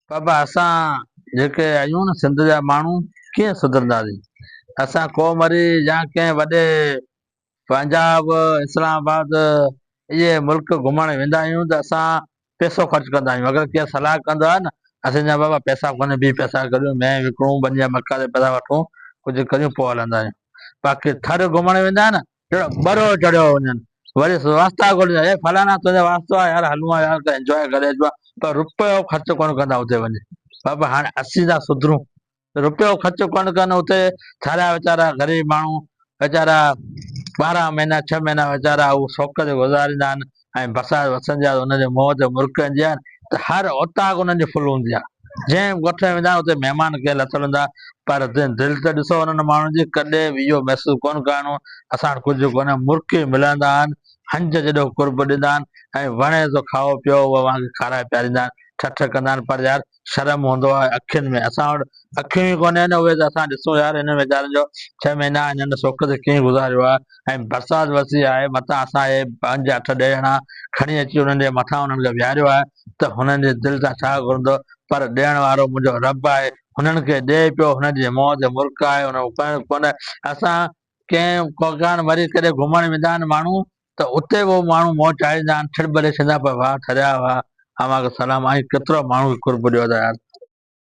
بابا اسان جيڪي آهيون نه سنڌ جا ماڻهو ڪيئن سڌرنداسين اسان ڪو مري يا ڪنهن وڏي پنجاب اسلام آباد اهي ملڪ گهمڻ ويندا آهيون ته اسان پيسو خرچ ڪندا آهيون اگر ڪير صلاح ڪندو آهي نه اسين چوندا آهيون بابا پيسا ڪونهي بيهه پيسا ڪڍيون مينهن وڪڻون ٻني جا مڪا تي پيسا وٺون ڪجهه ڪريون پوء هلندا آهيون باقي ٿر گهمڻ ويندا آهيون نه جهڙو ٻرڙو چڙهيو وڃن. وري واسطا گهرجن اي فلاڻا تنهنجا واسطا آهي يار هلون ها يار ته انجواء ڪري اچبو آهي پر رپيو خرچ ڪونه ڪندا اتي وڃي بابا هاڻي اسين ٿا سڌرون رپيو خرچ ڪونه ڪن اتي ٿاريا ويچارا غريب ماڻهو ويچارا ٻارهن مهينا ڇهه مهينا ويچارا هو سوڪ تي گذاريندا آهن ۽ بسايا وسن جا انهن جي منهن تي مرڪ هنجي آهن ته هر اوطاق انهن جي فل هوندي آهي. جنهن ڳوٺ ۾ ويندا آهن اتي مهمان ڪيئن لٿل هوندا پر دل ته ڏسو انهن ماڻهن جي ڪڏهن به اهو محسوس ڪونه ڪرڻو اسان وٽ ڪجهه ڪونهي مرڪ ئي ملندا آهن هنج جيڏو قرب ڏيندا آهن ۽ وڻي سو کائو پيئو اوهان کي کارائي پياريندا آهن ٺٺ ڪندا آهن پر يار شرم هوندو آهي اکين ۾ اسان وٽ اکيون ئي ڪونهن اهي ته اسان ڏسون يار هنن ويچارن جو ڇهه مهينا هنن سوڪ تي ڪيئن گذاريو آهي ۽ برسات ورسي آهي متان اسان اهي پنج اٺ ڏهه ڄڻا کڻي اچي انهن جي مٿان انهن کي ويهاريو آهي ته هنن جي دل تان ڇا گهرندو پر ڏيڻ وارو منهنجو رب آهي هنن کي ڏئي پيو هنن جي منهن تي مرڪ آهي انهن کي ڪنهن ڪونه اسان ڪنهن ڪوڪان وري ڪڏهن گهمڻ ويندا آهن ماڻهو ته اتي اهي ماڻهو منهن چاڙهيندا آهن، ڇڙٻلي ڇندا پيا، واهه ٿريا، واهه اوهان کي سلام، آئين ڪيترا ماڻهو کي قرب ڏيو ٿا يار.